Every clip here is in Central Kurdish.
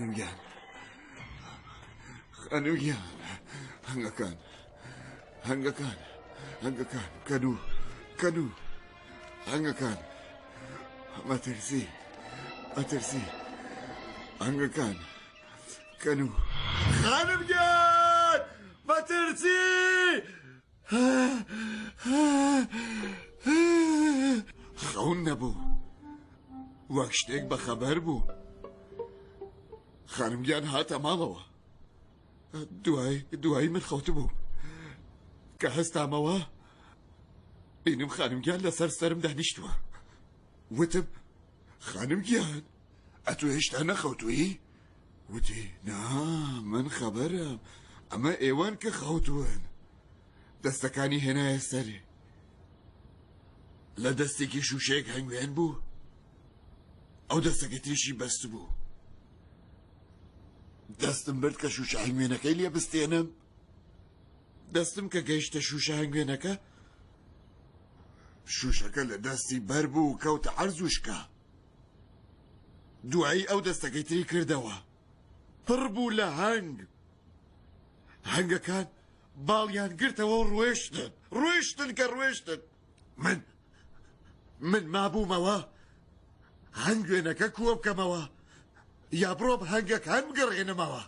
خانوگیان خانوگیان هەنگەکان هەنگەکان هەنگەکان کەدوو کەدوو هەنگەکان مەترسی مەترسی هەنگەکان کەنوو خانم گیان بەترسی خەون نەبوو وەک شتێک بەخەبەر بوو خانم گیان هاتە ماڵەوە دوای دوایی من خەوت بوو کە هەستامەوە بینم خانم گیان لەسەر سرم دانیشتووە وتم خانم گیان ئەتو هێشتا نەخەوتوویی؟ وتی، نا، من خەبەرم، ئەمە ئێوەن کە خەوتوون. دەستەکانی هێنایە سەرێ. لە دەستێکی شووشەیەک هەنگوێن بوو، ئەو دەستەکە تێشی بەست بوو. دەستم برد کە شووشە هەنگوێنەکەی لێ بستێنم. دەستم کە گەیشتە شووشە هەنگوێنەکە، شووشەکە لە دەستی بەر بوو کەوتە عەرز و شکا. دوایی ئەو دەستەکەی تری کردەوە پڕ بوو لە هەنگ هەنگەکان باڵیان گرتەوە و ڕوێشتن ڕوێشتن کە ڕوێشتن من من مابوومەوە هەنگوێنەکە کووە بکەمەوە یا بڕۆم هەنگەکان بگەڕێنمەوە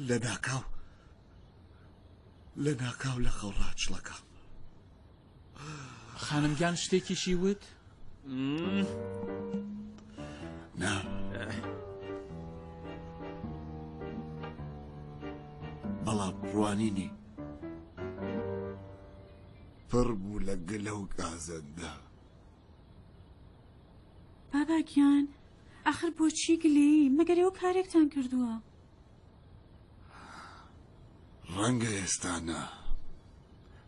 لەناکاو لەناکاو لە خەو ڕاچڵەکام. خانم گیان شتێکیشی وت؟ نا. بەڵام ڕوانینی پڕ بوو لە گلە و گازەندە. بابا گیان ئاخر بۆچی گلەیی؟ مەگەر ئێوە کارێکتان کردووە؟ ڕەنگە ئێستا نا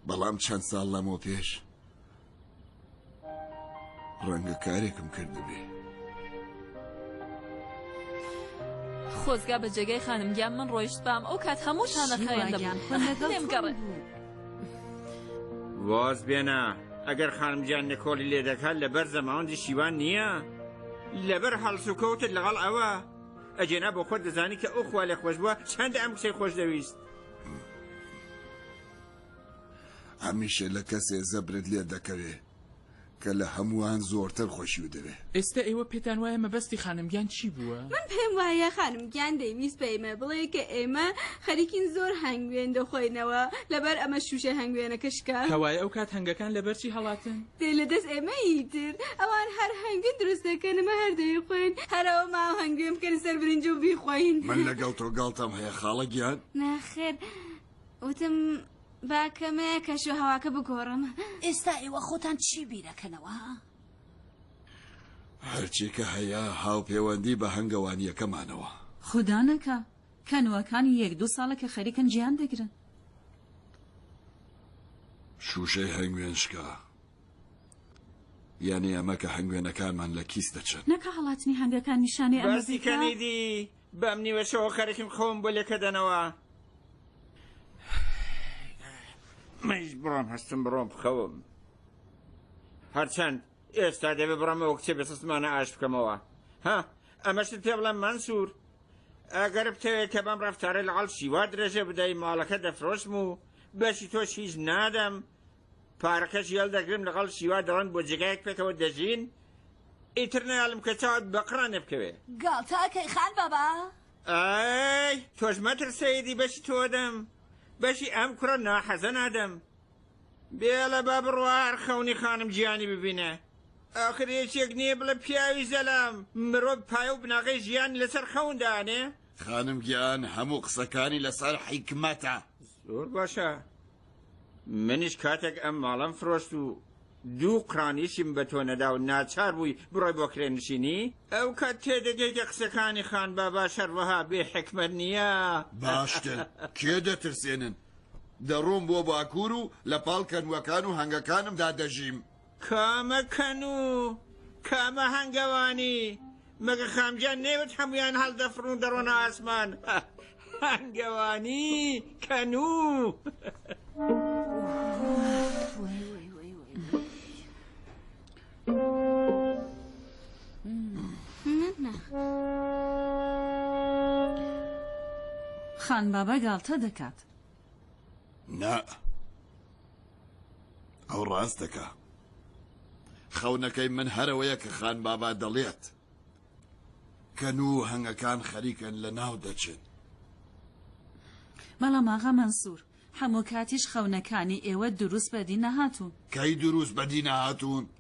بەڵام چەند ساڵ لەمەوە پێش ڕەنگە کارێکم کردبێ خۆزگا بە جێگای خانم گیان من ڕۆیشت بام ئەو کات هەموو شانەخایەن دەبوو لێم گەڕێ واز بێنە ئەگەر خانم گیان نکۆڵی لێ دەکات لەبەر زەماوەندی شیوان نییە لەبەر هەڵسوکەوتت لەگەڵ ئەوە ئەجێنا بۆ خۆت دەزانی کە ئەو خوا لێ خۆش بووە چەند ئەم کچەی خۆش دەویست هەمیشە لە کەسێ زەبرت لێ دەکەوێ کە لە هەمووان زۆرتر خۆشیو دەوێ. ئێستە ئێوە پێتان وایە مەبەستی خانم گیان چی بووە؟ من پێم وایە خانم گیان دەیویست بە ئێمە بڵێ کە ئێمە خەریکین زۆر هەنگوێن دەخۆینەوە لەبەر ئەمە شووشەی هەنگوێنەکە شکا. کەوایە ئەو کات هەنگەکان لەبەر چی هەڵاتن؟ دێ لە دەست ئێمە ی تر ئەوان هەر هەنگوین دروست دەکەن ئەمە هەر دەیخۆین هەر ئەوە ماوە هەنگوێن بکەنە سەر برنج و بیخۆین. من لەگەڵ تۆ گاڵتەم هەیە خاڵە گیان. نەخێر وتم. با کەمێک کەشوهەواکە بگۆڕم. ئێستا ئێوە خۆتان چی بیرەکەنەوە، ها؟ هەرچی کە هەیە هاوپێوەندی بە هەنگەوانییەکەمانەوە. خودا نەکا. کەنووەکان یەک دوو ساڵە کە خەریکن جیان دەگرن. شووشەی هەنگوێن شکا. یانی ئەمە کە هەنگوێنەکانمان لە کیس دەچن. نەکا هەڵاتنی هەنگەکان نیشانەی ئەمە بێت کە. باسی کەنیدی بەم نیوە شەوە خەرکم خۆم بۆ لێکەدەنەوە منیش بڕۆم هەستم بڕۆم بخەوم هەرچەند ئێستا دەبێ بڕەمەوە کچێ بەسەسمانە ئاش بکەمەوە ها ئەمەشت پێ بڵێم مەنسوور ئەگەر بتەوێت کە بەم ڕفتارە لە عڵشیوا درێژە بدەی ماڵەکە دەفرۆشم و بەشی تۆش هیچ نادەم پارەکەش یەڵدەگرم لەگەڵ شیوا دەڕۆن بۆ جێگایەک پێکەوە دەژین ئیتر نەیاڵم کە چاوت بە قڕانێ بکەوێ. گاڵتە ئەکەی خان بابا. ئای تۆش مەتر سەیدی بەشی تۆ دەم بەشی ئەم کوڕە ناحەزە نادەم بێڵە با بڕوا هەر خەونی خانم گیانی ببینە ئاخر یەکێک نییە بڵێ پیاوی زەلام مرۆڤ پایە و بناغەی ژیانی لەسەر خەون دانێ خانم گیان هەموو قسەکانی لەسەر حیکمەتە. زۆر باشە منیش کاتێک ئەم ماڵەم فرۆشت و دوو قرانیشیم بە تۆ نەدا و ناچار بووی بڕۆی بۆ کرێنشینی، ئەو کات تێدەگەی کە قسەکانی خان باباش هەروەها بێ حیکمەت نییە. باشتر کێ دەترسێنن؟ دەڕۆم بۆ باکوور و لە پاڵ کەنووەکان و هەنگەکانمدا دەژیم. کامە کەن و کامە هەنگەوانی؟ مەگە خامگیان نەیوت هەموویان هەڵدەفڕن و دەڕۆنە ئاسمان؟ هەنگەوانی کەن و خانبابە گاڵتە دەکات. نا ئەو ڕاست دەکا خەونەکەی من هەرەوەیە کە خان بابا دەڵێت کە نوو هەنگەکان خەریکەن لە ناو دەچن. بەڵام ئاغا مەنسور هەموو کاتیش خەونەکانی ئێوە دروست بەدی نەهاتوون. کەی دروست بەدی نەهاتوون؟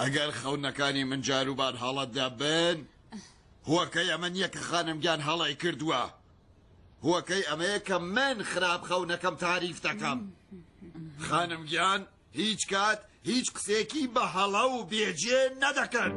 ئەگەر خەونەکانی من جاروبار هەڵە دەبن، هۆکەی ئەمە نییە کە خانم گیان هەڵەی کردووە، هۆکەی ئەمەیە کە من خراپ خەونەکەم تاریف دەکەم. خانم گیان هیچ کات هیچ قسێکی بە هەڵە و بێجێ نەدەکرد.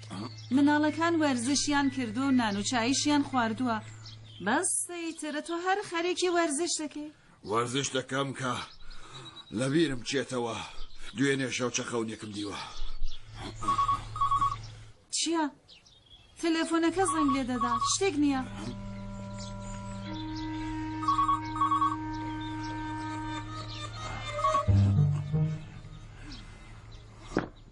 مناڵەکان وەرزشیان کردوە و نان و چایشیان خواردوە بەس ئیتر تۆ هەر خەریکی وەرزش دەکەی وەرزش دەکەم کە لەبیرم چێتەوە دوێنێ شەو چەخەونێکم دیوە چیە؟ تەلەفۆنەکە زەنگ لێ دەدا شتێک نییە.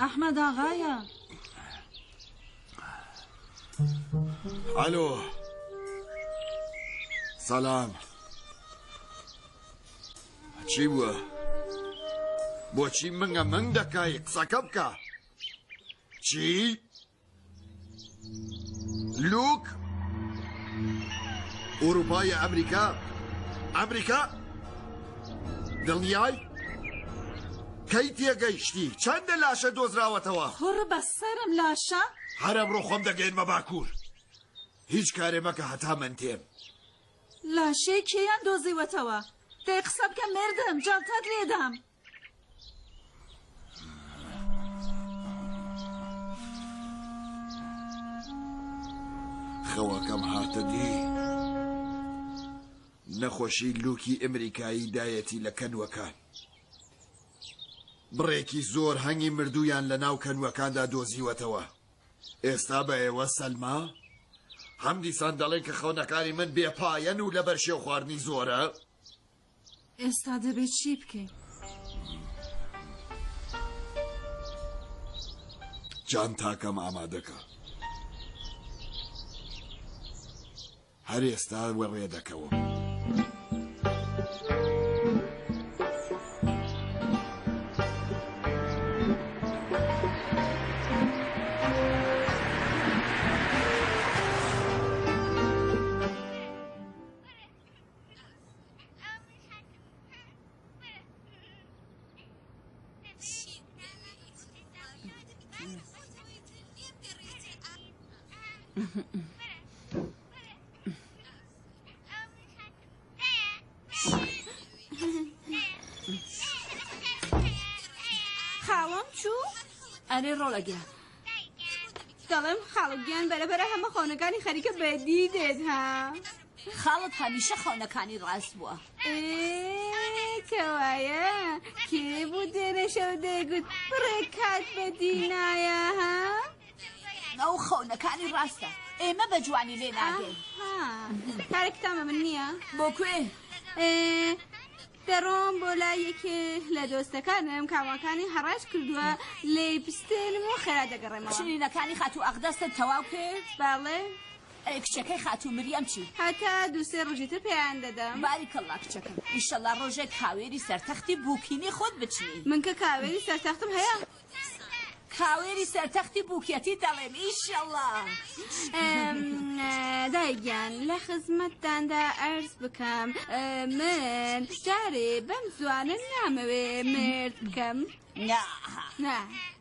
ئەحمەد ئاغایە ئەلۆ سەلام چی بووە؟ بۆچی منگە منگ دەکای قسەکە بکە چی؟ لوک ئوروپا یا ئەمریکا ئەمریکا دڵنیای کەی تێگەیشتی چەندە لاشە دۆزراوەتەوە کوڕ بە سەرم لاشە هەرە بڕۆ خۆم دەگەین بە باکوور هیچ کارێ مەکە هەتا من تێم لاشەی کێیان دۆزیوەتەوە دەی قسە بکە مردم جەڵتەت لێدام خەوەکەم هاتە دی نەخۆشی لوکی ئەمریکایی دایەتی لە کەنوەکان بڕێکی زۆر هەنگی مردویان لە ناو کەنوەکاندا دۆزیوەتەوە ئێستا بە ئێوە سەلما هەم دیسان دەڵێن کە خەونەکانی من بێ پایەن و لەبەر شێو خواردنی زۆرە ئێستا دەبێت چی بکەین؟ جانتاکەم ئامادەکە. هەر ئێستا وەڕێ دەکەوم. خاڵم چوو ئەرێ ڕۆڵەگە دەڵێم خاڵگیان بەرەبەرە هەمە خۆنەکانی خەریکە بەدی دێت ها خاڵت هەمیشە خەونەکانی ڕاست بووە کەوایە کێ بوو دێنە شەو دەیگوت بڕێ کات بە دینایە ها ئەو خەونەکانی ڕاستە ئێمە بە جوانی لێ ناگەین کارێکتامە من نییە بۆ کوێ دەڕۆم بۆ لا یەکێ لە دۆستەکانم کاواکانی هەڕاش کردووە لێ پستێنم و خێرا دەگەڕێمەوە شنینەکانی خاتوو ئەقدەستە تەواو کرد باڵێ ئەی کچەکەی خاتوو مریەم چی؟ هەتا دوو سێ ڕۆژی تر پێیان دەدەم. باریک اللە کچەکەم ئیشەڵا ڕۆژێک کاوێری سەر تەختی بووکینی خۆت بچنی. من کە کاوێری سەر تەختم هەیە. کاوێری سەر تەختی بووکێتی دەڵێم ئیشەڵا. دایە گیان لە خزمەتتاندا ئەرز بکەم من جارێ بەم زوانە نامەوێ مرد بکەم. نا. نا.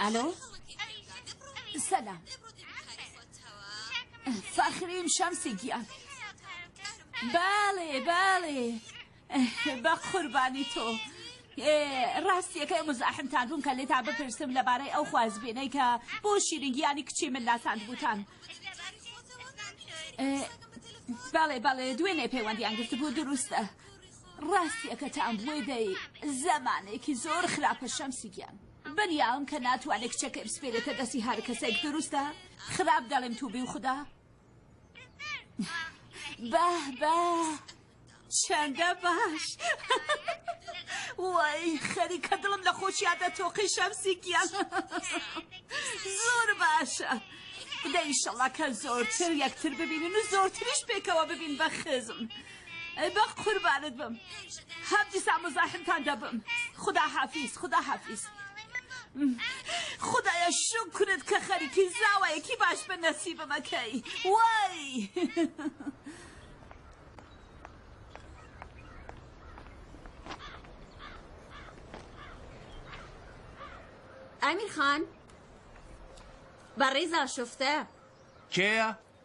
ئەلۆ سەلام فەخریم شەمسی گیان باڵێ باڵێ بە قوربانی تۆ ڕاستیەکەی مزاحمتان بووم کە لێتان بپرسم لەبارەی ئەو خوازبێنەی کە بۆ شیرین گیانی کچی من ناساندبووتان. بەڵێ بەڵێ دوێنێ پەیوەندیان گرتبوو دروستە ڕاستیەکەتان بۆی دەی زەمانێکی زۆر خراپە شەمسی گیان بەنیاوم کە ناتوانێت کچەکەی بسپێرێتە دەستی هەرکەسێک دروستە خراپ دەڵێم تووبی و خودا بە بە چەندە باش وای خەریکە دڵم لە خۆشیا دەتۆقی شەمسی گیان زۆر باشە دەیشەڵا کە زۆرتر یەکتر ببینن و زۆرتریش پێکەوە ببین بە خزم. ئەی بە قوربانت بم هەفتی سا مزاحمتان دەبم خدا حافیز خدا حافیز خدایە شکرت کە خەریکی زاوایەکی باش بە نەسیبمەکەی وای ئەمیر خان بەڕێزا شفتە کێە؟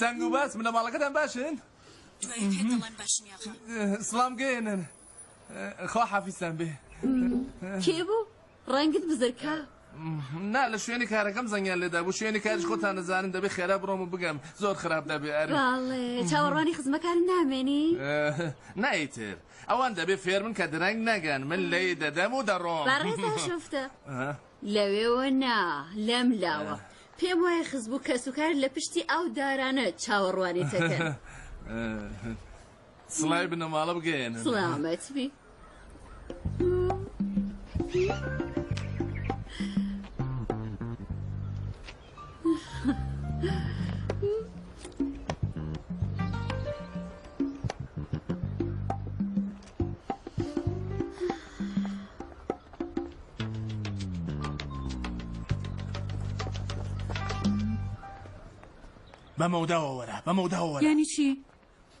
تەنگ و باس بنەماڵەکەتان باشن؟ دوای تێ دەڵێم باشم یاخوا. سڵام گێنن خوا حافیزتان بێ. کێ بوو؟ ڕەنگت بزرکا. نا لە شوێنی کارەکەم زەنگیان لێدا بوو شوێنی کاریش خۆتان نەزانن دەبێ خێرا بڕۆم و بگەم زۆر خراپ دەبێ ئەرێ باڵێ چاوەڕوانی خزمەکارم نامێنی؟ نایتر ئەوان دەبێ فێرمن کە درەنگ نەگەن من لێی دەدەم و دەڕۆم بەڕێزان شوفتە. لەوێوە نا، لەم لاوە. پێم وایە خزم و کەسوکار لە پشتی ئەو دارانە چاوەڕوانی تەکەن. سڵاوی بنەماڵە بگەیەنن. سڵامەت بی. بە مەوداوە وەرە بە مەوداوە وەرە یانی چی؟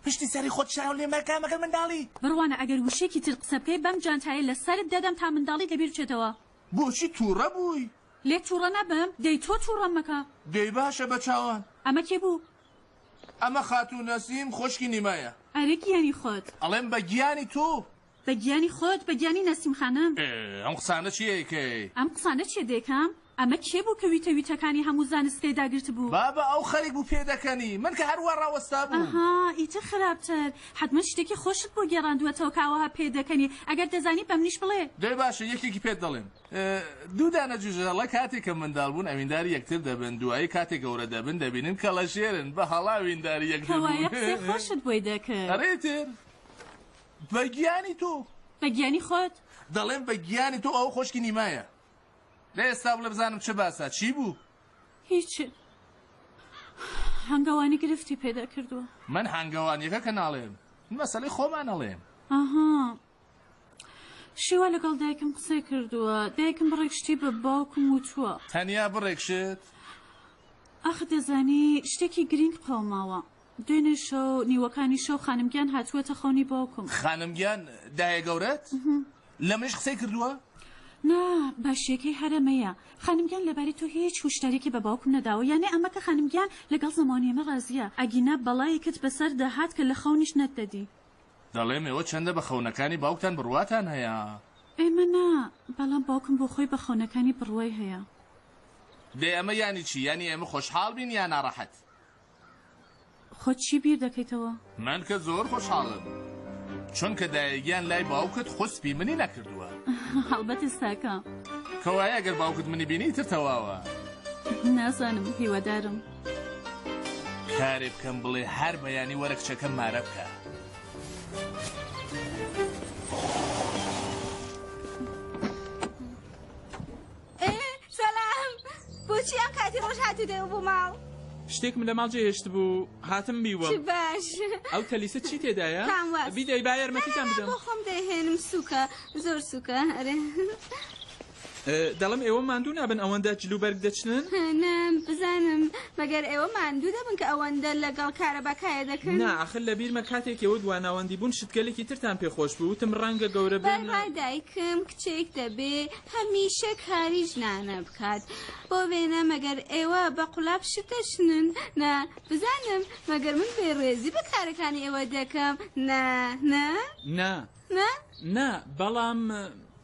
پشتی سەری خۆت شاو لێ مەکە مەگەر منداڵی بڕوانە ئەگەر وشێکی تر قسە بکەی بەم جانتایە لە سەرت دەدەم تا منداڵی لەبیر بچێتەوە بۆچی تووڕە بووی؟ لێت تووڕە نەبم دەی تۆ تووڕەم مەکە دەی باشە بە چاوان ئەمە کێ بوو؟ ئەمە خاتوو نەسیم خۆشکی نیمایە. ئەرێ گیانی خۆت. ئەڵێم بە گیانی تو. بە گیانی خۆت بە گیانی نەسیم خانم. ئێ ئەم قسانە چیە ئەیکەی. ئەم قسانە چیە دەیکەم؟ ئەمە کێ بوو کە ویتە ویتەکانی هەموو زانست پێ داگرت بوو. بابە ئەو خەریک بوو پێ دەکەنی. من کە هەر وا ڕاوەستا بووم. ئەها ئیتر خراپتر. حەتمەن شتێکی خۆشت بۆ گێڕاندووەتەوە کە ئاوەها پێ دەکەنی. ئەگەر دەزانی بە منیش بڵێ. دەی باشە یەکێکی پێت دەڵێم. دوو دانە جوجەهەڵە کاتێک کە منداڵ بوون ئەوینداری یەکتر دەبن دوایی کاتێک گەورە دەبن دەبینن کەڵەشێرن بە هەڵە ئەوینداری یەکتر بوون. کەوایە قسەی خۆشت بۆی دەکرد. ئەرێ ئیتر بە گیانی تۆ. بە گیانی خۆت. دەڵێم بە گیانی تۆ ئەوە خۆشکی نیمایە. دە ئێستا بڵێ بزانم چ باسە چی بوو؟ هیچ هەنگەوانی گرفتی پێدا کردووە. من هەنگەوانیەکە کە ناڵێم من مەسەلەی خۆمانەڵێم. ئەها. شێوا لەگەڵ دایکم قسەی کردووە دایکم بڕێک شتی بە باوکم وتووە تەنیا بڕێک شت ئاخ دەزانی شتێکی گرینگ قەوماوە دوێنێ شەو نیوەکانی شەو خانمگیان هاتووەتە خەونی باوکم خانمگیان دایە گەورەت لە منش قسەی کردووە نا باشیەکەی هەرەمەیە خانمگیان لەباری تۆ هیچ هوشدارێکی بە باوکم نەداوە یانێ ئەمە کە خانمگیان لەگەڵ زمانیمە ڕازیە ئەگینا بەڵایەکت بەسەر دەهات کە لە خەونیش نەتدەدی دەڵێم ئێوە چەندە بە خەونەکانی باوکتان بڕواتان هەیە؟ ئێمە نا، بەڵام باوکم بۆ خۆی بە خەونەکانی بڕوای هەیە. دەی ئەمە یانی چی؟ یانی ئێمە خۆشحاڵ بین یا ناڕەحەت؟ خۆت چی بیر دەکەیتەوە؟ من کە زۆر خۆشحاڵم، چونکە دایەگیان لای باوکت خوسپی منی نەکردووە. هەڵبەت ئێستاکە. کەوایە گەر باوکت منی بینی ئیتر تەواوە. نازانم، هیوادارم. کارێ بکەم بڵێ هەر بەیانی وەرە کچەکەم مارە بکە. بۆچی ئەم کاتی ڕۆژ هاتو دەوە بۆ ماڵ شتێکم لە ماڵ جێهێشت بوو هاتم بیوە باش ئەو تەلیسە چی تێدایە بیدەی بایەرمەتیتان بدەم خۆم دەهێنم سووکە زۆر سووکە ئەرێ دەڵێم ئێوە ماندوو نابن ئەوەندە جل و بەرگ دەچنن؟ نا بزانم مەگەر ئێوە ماندوو دەبن کە ئەوەندە لەگەڵ کارەبا کایە دەکەن؟ نا ئاخر لە بیرمە کاتێک ئێوە دوا ناوەندی بوون شتگەلێکی ترتان پێ خۆش بوو وتم ڕەنگە گەورە بن. بەربای دایکم کچێک دەبێ هەمیشە کاری ژنانە بکات بۆ وێنە مەگەر ئێوە بە قولاپ شت دەچنن؟ نا بزانم مەگەر من بێ ڕێزی بە کارەکانی ئێوە دەکەم؟ نا نا؟ نا نا؟ نا بەڵام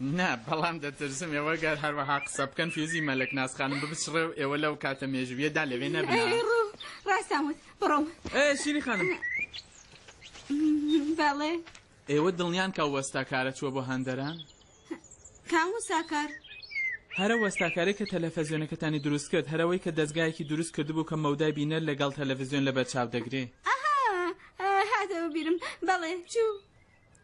نا، بەڵام دەترسم ئێوە گەر هەروەها قسە بکەن فیوزی مەلەک ناز خانم ببچڕێ و ئێوە لەو کاتە مێژوویەدا لەوێ نەبنە. ئەرێ ڕۆ، ڕاستان وت، بڕۆم. ئێ شیری خانم! بەڵێ. ئێوە دڵنیان کە ئەو وەستاکارە چووە بۆ هەندەران؟ کام وساکار؟ هەر ئەو وەستاکارەی کە تەلەفزیۆنەکەتانی دروست کرد، هەر ئەوەی کە دەزگایەکی دروست کردبوو کە مەودای بینەر لەگەڵ تەلەفزیۆن لەبەرچاو دەگرێ. ئەها، هاتەوە بیرم، بەڵێ، چوو.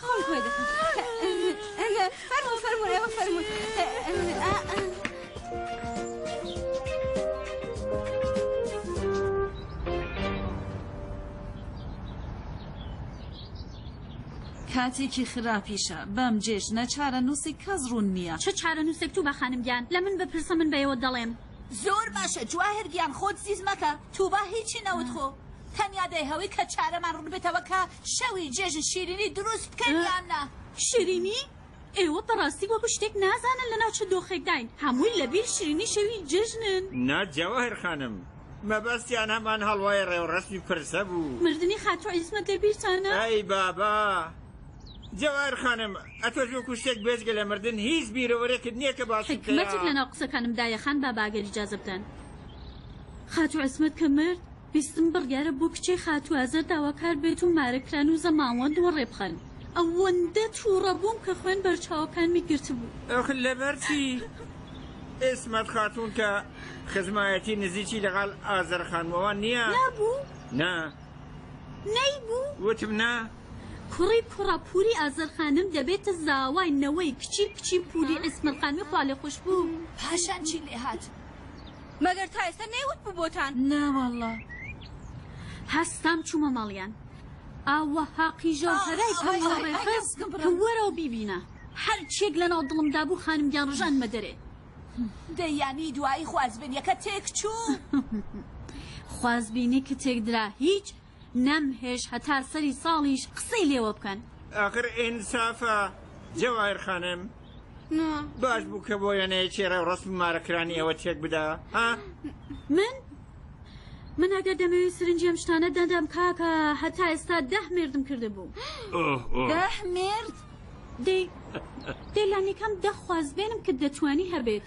خۆم کۆی دەکەم فەرموو فەرموو ئێوە فەرموو کاتێکی خراپیشە بەم جێژنە چارە نووسی کەس ڕوون نییە چ چارە نووسێک تو بە خانم گیان لە من بپرسە من بەیەوە دەڵێم زۆر باشە جواهر گیان خۆت زیز مەکە توبا هیچی نەوت خۆ تەنیا دەیهەوی کە چارەمان ڕوون بێتەوە کە شەوی جێژن شیرینی دروست بکەین یان نا؟ شیرینی؟ ئێوە بەڕاستی وەکو شتێک نازانن لەناو چ دۆخێکداین، هەمووی لەبیر شیرینی شەوی جێژنن. نا جەواهیر خانم، مەبەستیان هەمان هەڵوای ڕێوڕەسمی پرسە بوو. مردنی خاتوو عیسمەت لە بیرتانە؟ ئەی بابە! جەواهیر خانم، ئەتۆش وەکو شتێک بێجگە لە مردن هیچ بیرەوەرێکت نییە کە باسی بکەیە؟ حیکمەتێک لەناو قسەکانمدایە خان بابە ئەگەر ئیجازە بدەن. خاتوو عیسمەت کە مرد، ویستم بڕیارە بۆ کچەی خاتوو ئازەر داواکار بێت و مارەکران و زەماوەند وەڕێ بخەن. ئەوەندە تووڕە بووم کە خوێن بەرچاوەکانمی گرتبوو. ئەخ لەبەر چی؟ ئیسمەت خاتوون کە خزمایەتی نزیکی لەگەڵ ئازەر خانمەوە نییە. نەبوو؟ نا. نەیبوو؟ وتم نا. کوڕی کوڕە پووری ئازەر خانم دەبێتە زاوای نەوەی کچی کچی پووری ئیسمەت خانمی خوالێخۆشبوو. پاشان چی لێ هات؟ مەگەر تا ئێستا نەیوتبوو بۆتان. ناواللە هەستام چوومە ماڵیان ئاوەها قیژەو هەرای پەڕیوە ڕێخست کە وەرەوە بیبینە هەرچیەک لەناو دڵمدا بوو خانمگیان ڕژانمە دەرێ. دەی یانی دوایی خوازبێنیەکە تێکچوو؟ خوازبینی کە تێکدرا هیچ نەم هێشت هەتا سەری ساڵیش قسەی لێوە بکەن. ئاخر ئینسافە جەواهیر خانم باش بوو کە بۆ یەنەیەکی ڕێوڕەسم و مارەکرانی ئێوە تێک بدا ها؟ من؟ من ئەگەر دەمەوێت سرنجی ئەم شتانە دەدەم کاکە هەتا ئێستا دەه مێردم کردبوو. دەه مێرد؟ دەی دەی لانیکەم دە خوازبێنم کە دەتوانی هەبێت.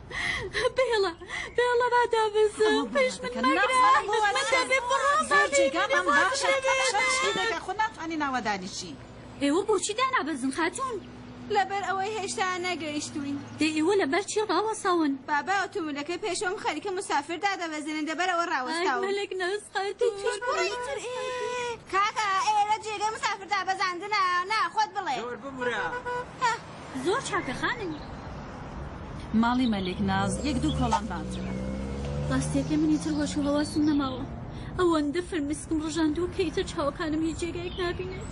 بێڵە بێڵە با دابەزم پێش من مەگرێگەم باشە خۆ ناتوانانی ناوەدانیشی ئێوە بۆچی دانابەزن خاتون لەبەر ئەوەی هێشتا نەگەیشتوین دێ ئێوە لەبەر چی ڕاوەساون بابا ئۆتۆمبیلەکە پێشەوەم خەریکە مسافر دادەبەزێنن دەبەر ئەوە ڕاوەستاولێک نەسقەتڕیتر کاکە ئێرە جێگە مسافر دابەزاندنە ناخۆت بڵێ بمرە زۆر چاکە خانم. ماڵی مەلیک ناز یەک دوو کۆڵان بانترە. ڕاستیەکەی من ئیتر هۆش و هەواسم نەماوە ئەوەندە فرمسکم ڕژاندووە کە ئیتر چاوەکانم هیچ جێگایەک نابینێت.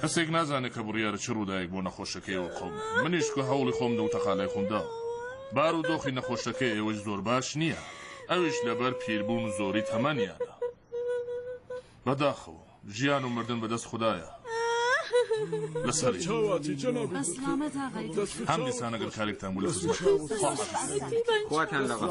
کەسێک نازانێت کە بڕیارە چ ڕووداێک بۆ نەخۆشەکە ئێوە خۆم منیش کە هەوڵی خۆم دە و تەقالای خۆم داوە بار و دۆخی نەخۆشەکە ئێوەی زۆر باش نییە ئەویش لەبەر پیربوون و زۆری تەمەنیانە بەداخەوە ژیان و مردن بەدەست خدایە لەسەر هەم دیسانەگەر کارێکتان بوو لە خزمەت خواتان لەگەڵ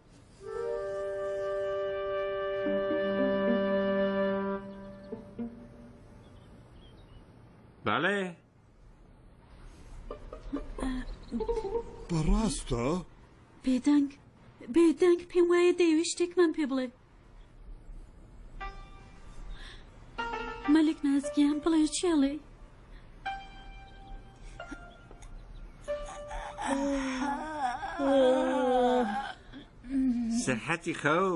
بەڵێ بەڕاستە؟ بێدەنگ بێدەنگ پێم وایە دەیەوێت شتێکمان پێ بڵێ مەلک ناز گیان بڵێ چی ئەڵێی؟ سەحەتی خەو.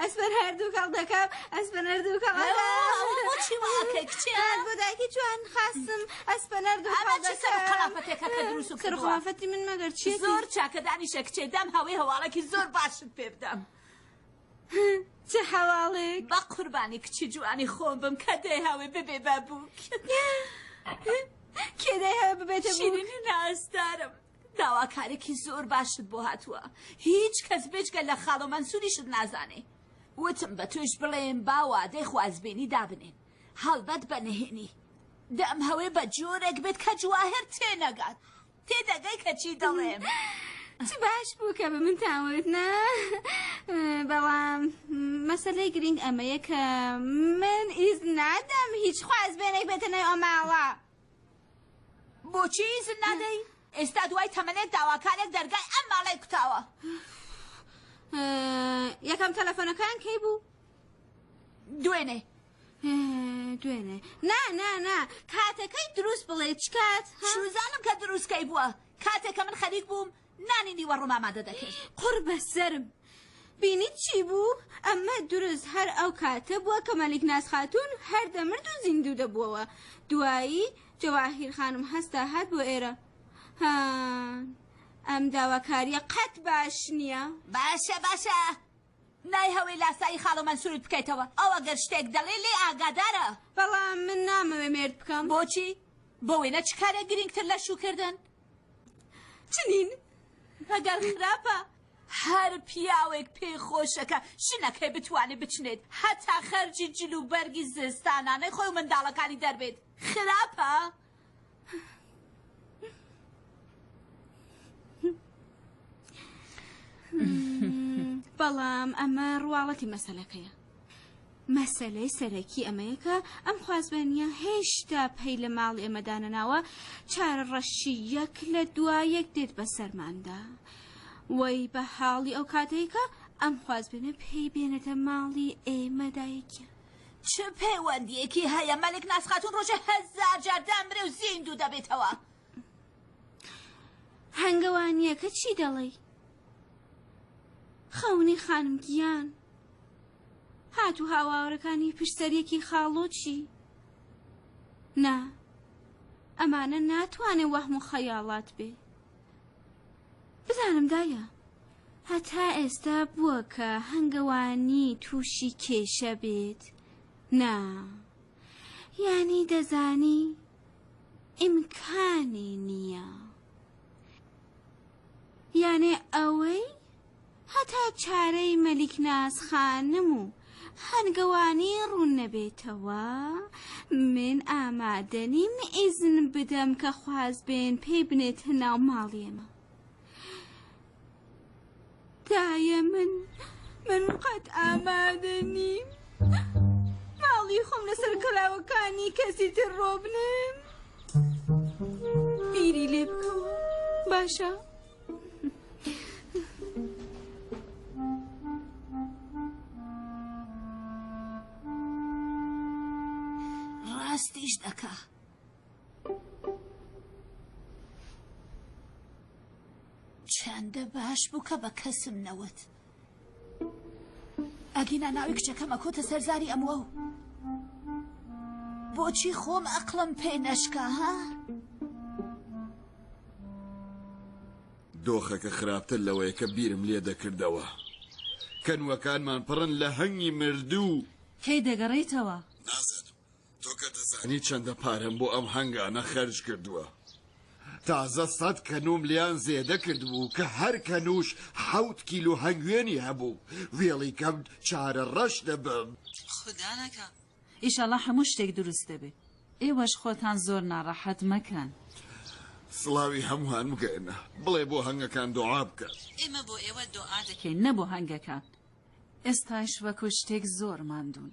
ئەسپەر هەردوو کاڵ دەکەم ئەسپەر هەردوو کاڵ بۆداکی جوان خاستم ئەسپەر دوخڵافەتی من مەگەر چی زۆر چاکەدانی شە کچێ دام هەوەی هەواڵێکی زۆر باشت پێ بدەم. هه چ هەواڵێک. بەقوربانی کچی جوانی خۆم بم کە دەیهاوێ ببێ بە بووک. کێ دەیهاوێ ببێتە بووک؟ شیرینی نازدارم داواکارێکی زۆر باشت بۆ هاتووە هیچ کەس بێجگە لە خاڵۆ مەنسوریشت نازانێ وتم بە تۆش بڵێم با وادەی خوازبێنی دابنێن هەڵبەت بە نهێنی دەم هەوێ بە جۆرێک بێت کە جواهر تێنەگات تێدەگەی کە چی دەڵێم. چ باش بوو کە بە منتان وت نا بەڵام مەسەلەی گرنگ ئەمەیە کە من ئیز نادەم هیچ خواز بێنێک بێتە ناو ئەماوە بۆچی ئیزن نادەی ئێستا دوای تەمەنێک داواکارێک دەرگای ئەم ماڵی کوتاوە یەکەم تەلەفۆنەکان کەی بوو دوێنێ دوێنێ نا نا نا کاتەکەی دروست بڵێ چکات شوزانم کە دروستکەی بووە کاتێکە من خەریک بووم نانی نیوە ڕمامادە دەکرد قڕ بە سرم بینی چی بوو ئەمە دروست هەر ئەو کاتە بووە کە مەلیک ناز خاتون هەر دەمرد و زیندوو دەبووەوە دوایی جەواهیر خانم هەستا هات بۆ ئێرە ها ئەم داواکاریە قەت باش نییە باشە باشە نایهەوێ لاسایی خاڵۆ مەنسورت بکەیتەوە ئەو ئەگەر شتێک دەڵێ لێی ئاگادارە. بەڵام من نامەوێ مێرد بکەم. بۆچی؟ بۆ وێنە چ کارێک گرینگتر لە شووکردن؟ چنین مەگەر خراپە؟ هەر پیاوێک پێی خۆشە کە ژنەکەی بتوانێ بچنێت هەتا خەرجی جل و بەرگی زستانانەی خۆی و منداڵەکانی دەربێت خراپە؟ بەڵام ئەمە ڕواڵەتی مەسلەکەیە مەسلەی سەرەکی ئەمەیەکە ئەم خوازبێنە هێشتا پەی لە ماڵ ئێمەدانەناوە چارە ڕەشی یەک لە دوا یەک دێت بە سەرماندا وەی بە حاڵی ئەو کاتێکە ئەم خوازبێنە پێی بێنێتە ماڵی ئێمەدایکیان چ پەیوەندیەکی هەیە مەلک ناز خاتون ڕۆژێ هەزار جار دامرێ و زیندوو دەبێتەوە هەنگەوانیەکە چی دەڵێی خەونی خانم گیان هات و هاواورەکانی پشتەریەکی خاڵۆچی نا ئەمانە ناتوانێ وەهم و خەیاڵات بێ بزانم دایە هەتا ئێستا بووە کە هەنگەوانی تووشی کێشە بێت نا یانی دەزانی ئیمکانی نییە یانێ ئەوەی هەتا چارەی مەلیک ناز خانم و هەنگەوانی ڕوون نەبێتەوە من ئامادە نیم ئیزن بدەم کە خوازبێن پێی بنێتە ناو ماڵی ئێمە دایە من من قەت ئامادە نیم ماڵی خۆم لەسەر کەلاوەکانی کەسی تر ڕۆبنم بیری لێ بکەوە باشە ڕاستیش دەکا چەندە باش بوو کە بە کەسم نەوت ئەگینا ناوی کچەکەم ئەکۆتە سەر زاری ئەموە و بۆچی خۆم ئەقڵم پێ نەشکا ها؟ دۆخەکە خراپتر لەوەیە کە بیرم لێ دەکردەوە کەنوەکانمان پڕن لە هەنگی مردوو کەی دەگەڕێیتەوە؟ نازانم تۆ کە دەزانی چەندە پارەم بۆ ئەم هەنگانە خەرج کردووە تازە سەد کەنوم لیان زێدە کردبوو کە هەر کەنوش حەوت کیلو هەنگوێنی هەبوو وێڵی کەم چارە ڕەش دەبم خودا نەکا ئیشەڵا هەموو شتێک دروست دەبێ ئێوەش خۆتان زۆر ناڕەحەت مەکەن. سڵاوی هەمووان بگەێنە بڵێ بۆ هەنگەکان دۆعا بکە. ئێمە بۆ ئێوە دۆعا دەکەین نە بۆ هەنگەکان. ئێستایش وەکو شتێک زۆر ماندوون.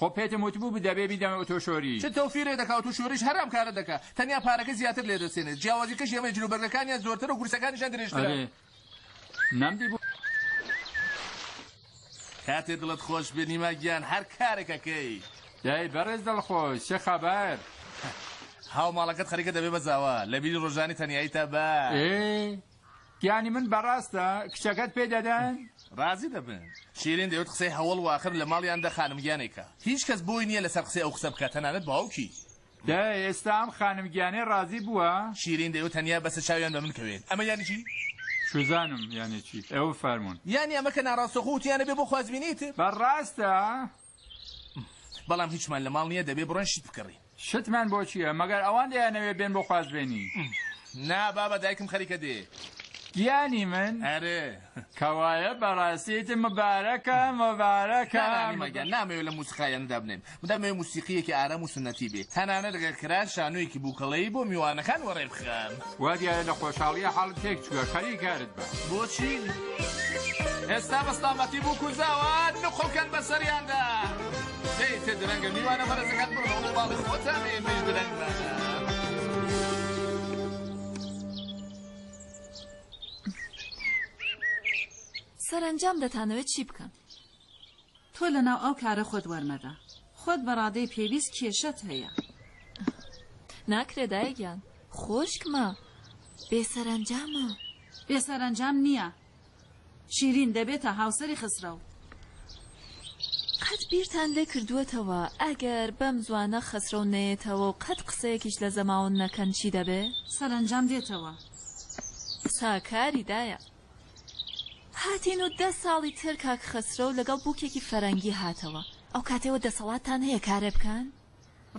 خۆ پێتم وتبوو دەبێ بیدەمە بە تۆ شۆری. چ تۆ فیرێ دەکا و تو شۆریش هەرام کارت دەکا تەنیا پارەکە زیاتر لێ دەستێنێت جیاوازیکەش یەمەیە جلو بەرگەکانیان زۆرترە و کورسەکانیشان درێژترە. ئەرێ نەمدیبوو. کاتێ دڵت خۆش بێ نیما گیان هەر کارێک ئەکەی. دەی بەڕێز دڵخۆش چ خەبەر. هاوماڵەکەت خەریکە دەبێ بە زاوا لە بیری ڕۆژانی تەنیاییتا بە. ئێ یانی من بەڕاستە کچەکەت پێ دەدەن؟ ڕازی دەبن. شیرین دەیوت قسەی هەوەڵ واخر لە ماڵیان دە خانم گیانێکە هیچ کەس بۆی نیە لەسەر قسەی ئەو قسە بکات تەنانەت باوکی. دە ئێستا ئەم خانم گیانەی ڕازی بووە؟ شیرین دەیوت تەنیا بەسە چاویان بە من کەوێت ئەمە یانی چی؟ شوزانم یانی چی؟ ئێوە فەرموون. یانی ئەمە کە ناڕاستەخۆ وتیانە بێ بۆ خوازبینی تر. بەڕاستە؟ بەڵام هیچمان لە ماڵ نییە دەبێ بڕۆین شت بکڕین. شتمان بۆ چییە؟ مەگەر ئەوان دەیانەوێ بێن بۆ خوازبێنی؟ نا بابە دایکم خەریکە دێ. گیانی من؟ ئەرێ. کەوایە بەڕاستی ئیتر مبارەکە مبارەکە. نا نا نیما گیان نامەوێ لەم موسیقایانە دابنێم. من دەمەوێ موسیقییەکی ئارام و سوننەتی بێ. تەنانەت ئەگەر کرا شانۆیەکی بووکەڵەیی بۆ میوانەکان وەڕێ بخەم. وا دیارە لە خۆشحاڵییە حاڵت تێک چووە، خەریک کارت بە. بۆچی؟ ئێستا بە سڵامەتی بووک و زاوا نقڵ کەن بە سەریاندا. دەی تێ درەنگە میوانە بەڕێزەکان بڕۆ بە باڵی خۆتان ئێمەیش درەنگمانە. سەرەنجام دەتانەوێت چی بکەن؟ تۆ لەناو ئەو کارە خۆت وەرمەدە. خۆت بە ڕادەی پێویست کێشەت هەیە. ناکرێ دایە گیان. خۆشکمە. بێ سەرەنجامە. بێ سەرەنجام نییە. شیرین دەبێتە هاوسەری خەسرەو. قەت بیرتان لێ کردووەتەوە ئەگەر بەم زوانە خەسرەو نەیەتەوە و قەت قسەیەکیش لە زەماون نەکەن چی دەبێ؟ سەرەنجام دێتەوە. ساکاری دایە. هاتین و دە ساڵی تر کاک خەسرەو لەگەڵ بوکێکی فەرەنگی هاتەوە ئەو کاتەی وە دەسەڵاتتان هەیە کارێ بکەن؟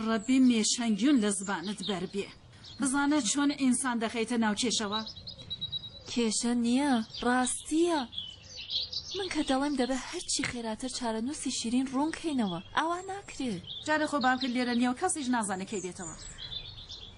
ڕەبی مێشەن گیون لە زبانت بەر بێ بزانە چۆن ئینسان دەخەیتە ناو کێشەوە. کێشە نیە ڕاستیە من کە دەڵێم دەبێ هەرچی خێراتر چارەنوسی شیرین ڕوون کەینەوە ئاوا ناکرێ. جارێ خۆ بابکە لێرە نیە و کەسیش نازانێ کەی دێتەوە.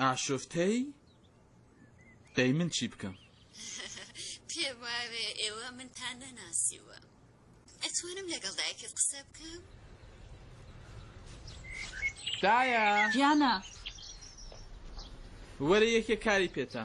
ئاشوفتەی دەی من چی بکەم. پێم وابێ ئێوە منتان نەناسیووە. ئەتوانم لەگەڵ دایکت قسە بکەم؟ دایە! گیانە! وەرە یەکێ کاری پێتە.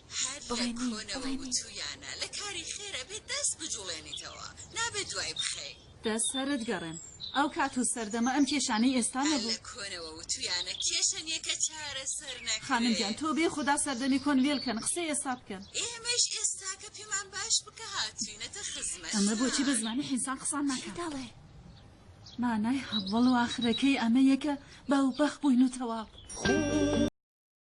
هەر لە کۆنەوە وتوویانە لە کاری خێر ئەبێ دەست بجوڵێنیتەوە نابێ دوای بخەی. دەست سەرت گەڕێم ئەو کات و سەردەمە ئەم کێشانەی ئێستا نەبوو. هەر لە کۆنەوە وتوویانە کێشە نیە کە چارەسەر نەکرێ. خانم گیان تۆ بێ خودا سەردەمی کۆن وێل کەن قسەی ئێستا بکەن. ئێمەش ئێستاکە پێمان باش بکە هاتووینەتە خزمەتتان. ئەمە بۆچی بە زمانی حینسان قسان ناکا. چی دەڵێ؟ مانای هەوەڵ و ئاخرەکەی ئەمەیە کە باوباخ بووین و تەواو.